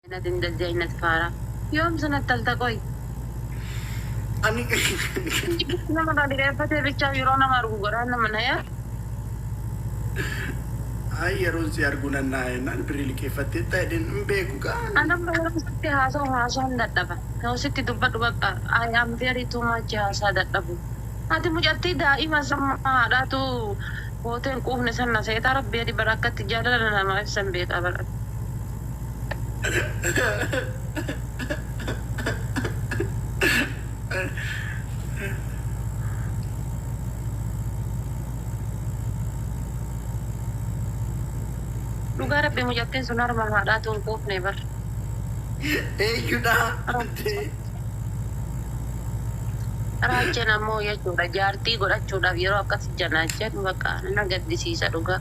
Inat indalja inat faara. Yoom sanatti talta qoy. Ani Nama irraa dhireeffatee bichaa yeroo nama argu garaan nama naya. Ay yeroon si arguu nan naa jennaan birrii liqeeffattee ta'e jedheen hin beeku gaa. Anam yeroo sitti haasa'u haasa'uun dadhaba. Yoo sitti dubbadhu bakka I am very too much haasaa dadhabu. Ati mucattii daa'ima samma haadhaatu gootee hin quufne sanna seetaa rabbi adi bara akkatti jaalala namaa ibsan beekaa bara. Dhugaa rabbi mucattiin sun harma haadhaatu hin quufne bar. Eeyyudhaa jettee. Raajjeen ammoo jechuudha jaartii godhachuudhaaf yeroo akkas janaajjan baqa na gaddisiisa dhugaa.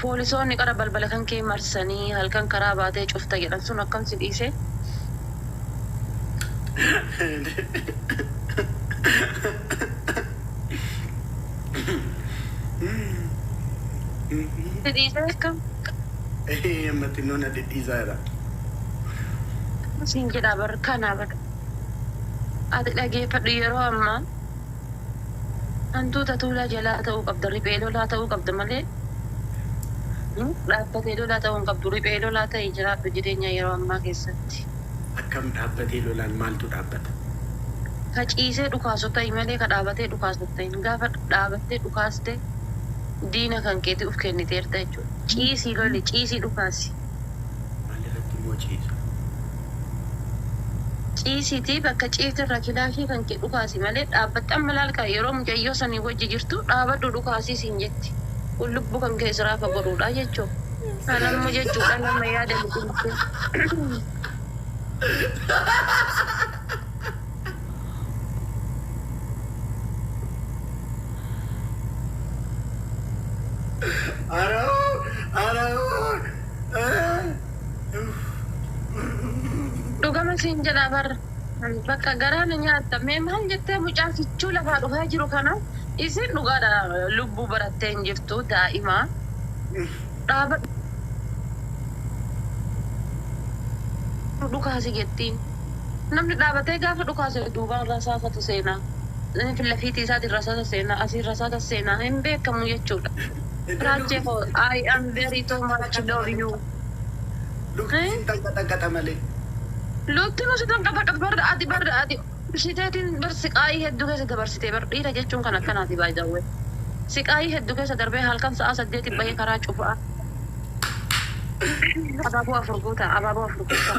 Poolisoonni qara balbala kan kee marsanii halkan karaa baatee cufta jedhan sun akkam si dhiise? Si dhiisee akkam? Ee amma xinnoo na dhidhiisaa jira. Siin jedhaa bar kana bar. Ati dhageeffadhu yeroo ammaa. Hantuuta tuulaa jalaa ta'uu qabda, riphee lolaa ta'uu qabda malee dhaabbatee lolaa ta'uu hin qabdu. Riphee lolaa ta'i jiraadhu jireenya yeroo ammaa keessatti. Akkam dhaabbatee lolaan maaltu dhaabbata? Ka ciisee dhukaasu ta'i malee ka dhaabatee dhukaasu hin ta'in. Gaafa dhaabattee dhukaaste diina kan keetii uf kenniteerta jechuudha. Ciisii loli, ciisii dhukaasi. Maalirratti immoo ciisa? Ciisiitii bakka ciifte irraa kilaashii kan kee dhukaasi malee dhaabbattee amma laal kaa yeroo mucayyoo sanii wajji jirtu dhaabadhu dhukaasii siin jetti kun lubbuu kan kee siraa fagodhuudhaa jechuu kan amma jechuudhaa nama yaada liqimsee. Dhugama siin jedhaa bar bakka garaa na nyaatta mee maal jettee mucaa kichuu lafaa dhufaa jiru kana isiin dhugaadha lubbuu barattee hin jirtu daa'ima dhaaba dhukaasi jettiin namni dhaabatee gaafa dhukaase duubaan rasaasatu seenaa filafiitii isaatiin rasaasa seenaa asiin rasaasa seenaa hin beekamu jechuudha. Raache koo I am very too much love you. Lukti hin xanqaxaqaxa malee. Lukti nu si xanqaxaqat bar ati bar ati shiteetin bar siqaayii heddu keessa dabarsite bar dhiira jechuun kan akkanaati by the way siqaayii heddu keessa darbee halkan sa'aa saddeeti bahee karaa cufaa abaaboo afur guutaa abaaboo afur guutaa.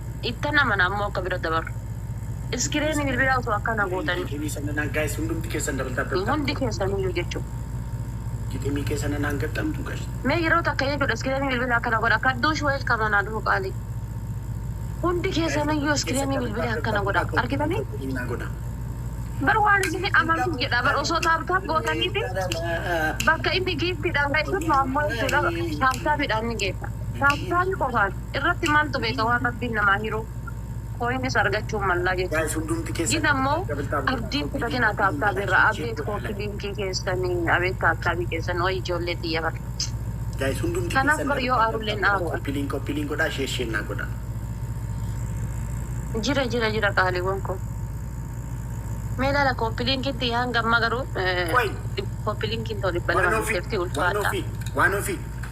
Ittan amana ammoo akka bira dabaru. Iskireeni bilbilaa osoo akkana gootanii. Hundi keessaniyyuu jechuudha. Mee yeroo takka jechuudha iskireeni bilbilaa akkana godha. Kadduush welcome anaa dhufu qaalii. Hundi keessaniyyuu iskireeni bilbilaa akkana godha. Argitanii? Bar waan isini amantu jedha bar osoo taap taap gootaniiti bakka inni giiftiidhaan ga'e sun ammoo jechuudha taap taapiidhaan ni geessa. Taap taapi qofaan. irratti maaltu beeka waan rabbiin namaa hiruu coins argachuun mallaa jechuun gin ammoo abdii hin kutatinaa taap taap irraa abeet koopi linkii keessan abeet taap taapi keessan way ijoollee tiyya bar kanaaf bar yoo aarulleen aaru an jira jira jira qaaliiwwan koo mee laala koopi linkiin tiyya hanga ammaa garuu koopi linkiin too dhibba lama hin jirti ulfaadhaa.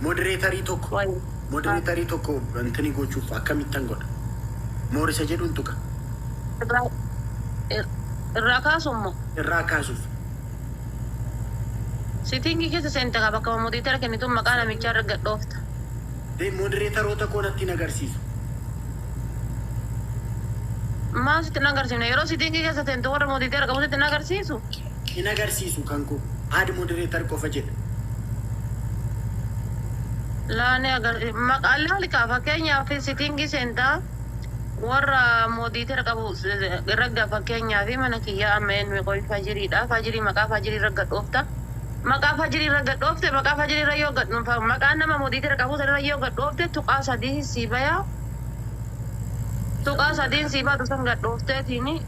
Moderatorii tokko Why? moderatorii tokko wantini gochuuf akkamittan godha? More isa jedhuun tuqa. Irraa ir- irraa kaasuun moo? Irraa kaasuuf. Sitiingii keessa seenta qaba akkuma modiitara kennituun maqaa namichaa irra gad dhoofta. Dee moderatoota koo natti hin agarsiisu. Maal sitti hin agarsiifne? Yeroo sitiingii keessa seentu warra modiitara qabu sitti hin agarsiisu? hin agarsiisu kan koo add moderator qofa jedha. Laa ni agarsiisa. Maqaa laali kaa fakkeenyaaf sittingii seentaa warra moderator qabu ragga fakkeenyaaf mana kiyyaa amma eenyu qoy fajiriidha fajirii maqaa fajirii irra gad dhoofta maqaa fajirii irra gad dhoofte maqaa fajirii irra yoo gad dhuunfa maqaa nama moderator qabu san irra yoo gad dhoofte tuqaa sadii sii baya tuqaa sadiin sii baatu san gad dhoofteetiini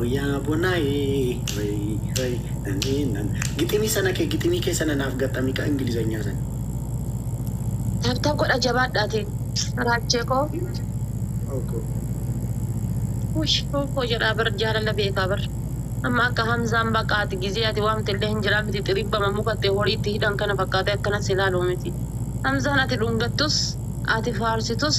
Oyaa bonaayee rey rey nanee nan giximii sana kee giximii kee sana naaf gaxamii ka ingilizanyaa sana. Taabtaab godha jabaadhaati Raachee koo. Oko. Ush koo jedhaa bar jaalala beekaa bar. Amma akka Hamzaan baqaa ati gizee ati waamte illee hin jiraa miti xiribbama muka itti horii itti hidhan kana fakkaatee akkana si ilaalu miti. Hamzaan ati dhungattus ati faarsitus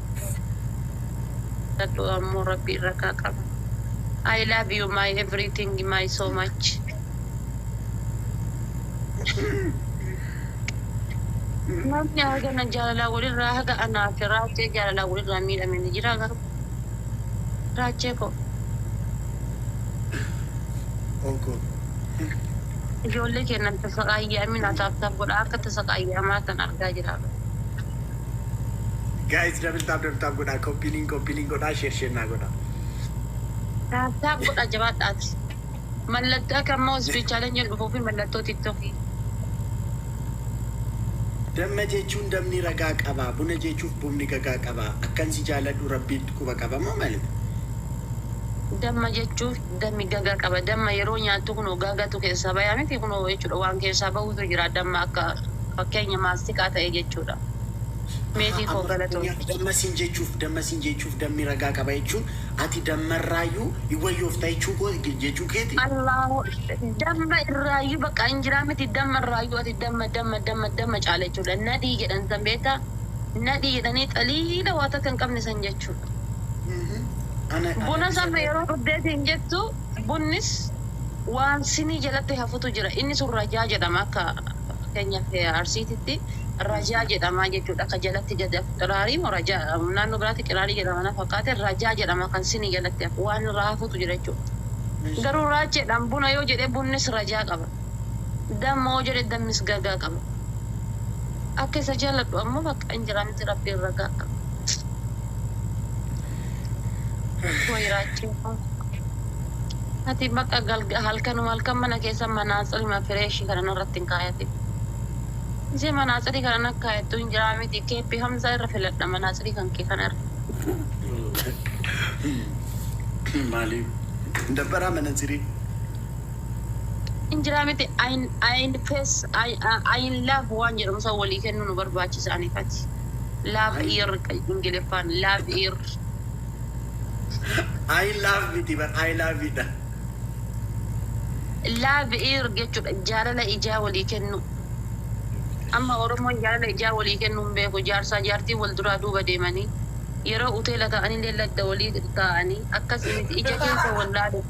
Jabadhu ammo rabbi irra kaa qaba. I love you my everything my so much. Namni hagana jaalalaa walirraa haga anaa fi raachee jaalalaa walirraa miidhame ni jira garuu raachee koo Oko. ijoollee keennan tasaqaayyamin ataaftaaf godha akka tasaqaayyamaa kan argaa jira. Guys double tap double tap godhaa copy link copy link godhaa share share naa godhaa. Taap taap godhaa jabaadhaati. Mallattoo akka ammoo speed challenge hin dhufuu fi mallattoo tiktokii. Damma jechuun damni ragaa qaba buna jechuuf bumni gagaa qaba akkan si jaaladhu rabbiitt quba qaba moo mali. Damma jechuuf. Dammi gaga qaba. Damma yeroo nyaattu kunoo gagatu keessaa baya miti kunoo jechuudha waan keessaa bahutu jira damma akka fakkeenya maastikaa ta'e jechuudha. Aha Meetii koo amma galatoomi. fakkeenyaaf damma siin jechuuf damma siin jechuuf dammi ragaa qaba jechuun ati dammarraayyuu hin wayyoofta jechuu koo jechuu keeti? Allaahu damma irraayyuu bakka hin jiraa miti damma irraayyuu ati damma damma damma damma caala jechuudha. Nadhii jedhan san beektaa? Nadhii jedhanii xaliila waa takka hin qabne san jechuudha. jechuudha. Bunas amma yeroo dhugdee siin jettu bunnis waan sinii jalatti hafutu jira. Inni sun rajaa jedhama akka fakkeenyaaf Arsiititti rajaa jedhama jechuudha. Akka jalatti gadi hafu qiraarii moo rajaa naannoo biraatti qiraarii jedhama na fakkaate rajaa jedhama kan sinii jalatti hafu waan irraa hafutu jira jechuudha. Garuu raacheedhaan buna yoo jedhe bunnis rajaa qaba. Damma yoo jedhe dammis gagaa qaba. Akka isa jaalladhu ammoo bakka hin jira miti Rabbiin ragaa. Way raachuu koo. Ati baqa galga halkanuma halkan mana keessa manaatsirima fireeshi kana narratti hin kaayatin. Ishee manaatsirii kana na kaayattu hin jiraa miti keeppi hamza irra filadha manaatsirii kan kee kana irra. Maalii dabbaraa manatsirii. Hin jiraa miti ayin ayin fees ayin laaf waan jedhamu san walii kennuu nu barbaachisa ani fati. Love Ay. air kan Ingiliffaan love air. I love miti bar I love it dha. Love air jechuudha jaalala ijaa walii kennuu. Amma Oromoon jaalala ijaa walii kennuu hin beeku. Jaarsaa jaartiin wal duraa duuba deemanii yeroo uteela ta'anillee ladda walii taa'anii akkas miti ija keessa wal laalu.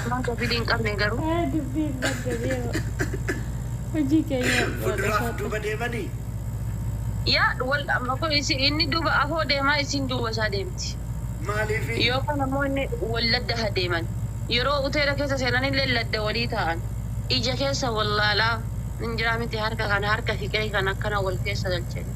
Maa gafili hin qabne garuu. Ee dubbiin badde beewa. Hojii kee nyaadhu haadha Fuduraaf shaadha. duuba deemanii? Yaa wal amma kun isi inni duuba afoo deemaa isiin duuba isaa deemti. Maaliifi? Yookaan ammoo inni wal ladda ha deeman. Yeroo hoteela keessa seenanillee ladda walii taa'an. Ija keessa wal laalaa hin jiraa miti harka kana harka fiqee kan akkana wal keessa galchanii.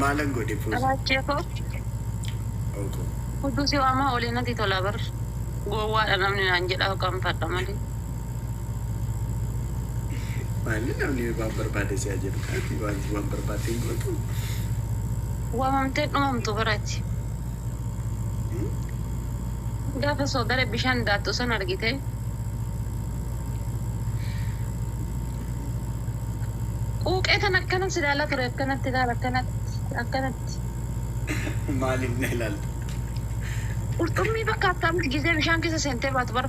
Maalan godhe puuzi? Abaachee koo Ookoo. hudduu si waamaa olee natti tola bar. Gowwaadha namni naan jedhaa qaanfadha malee. Maalli namni waan barbaade si'a jedhu kaati waan waan barbaadde hin gootu. Waamamtee dhumamtu bar ati. Hmm? Gaafa soodara bishaan daattu san argitee? Quuqee tan akkana si laala ture akkanatti laala akkanatti akkanatti. Maaliif na ilaalta? Qurxummii fakkaatti amti gisee bishaan keessa seentee baatu bar.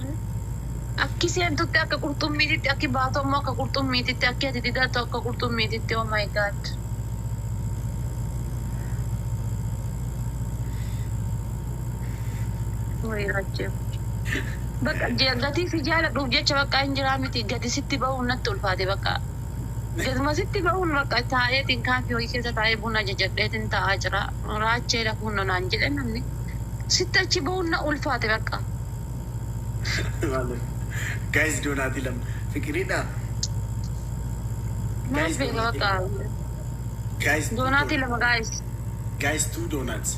Akki seentutti akka qurxummiititti akki baatu ammoo akka qurxummiititti akki ati didattu akka qurxummiititti oh my god. Wayii Rajjee. Bakka je- gatii si jaaladhuuf jecha bakka hin jiraa miti gadi sitti bahuun natti ulfaate bakka. Gaduma sitti bahuun bakka taa'eetiin kaafii wayii keessa taa'ee buna jajadheetiin taa'aa jira. Raachee lafuun na naan jedhe namni. Sitti achi bahuun na ulfaate bakka. Guys doonaatii lama. Fiqiridha. Maal beeka bakka. Guys Doonaatii lama gaa'is. Guys two donuts.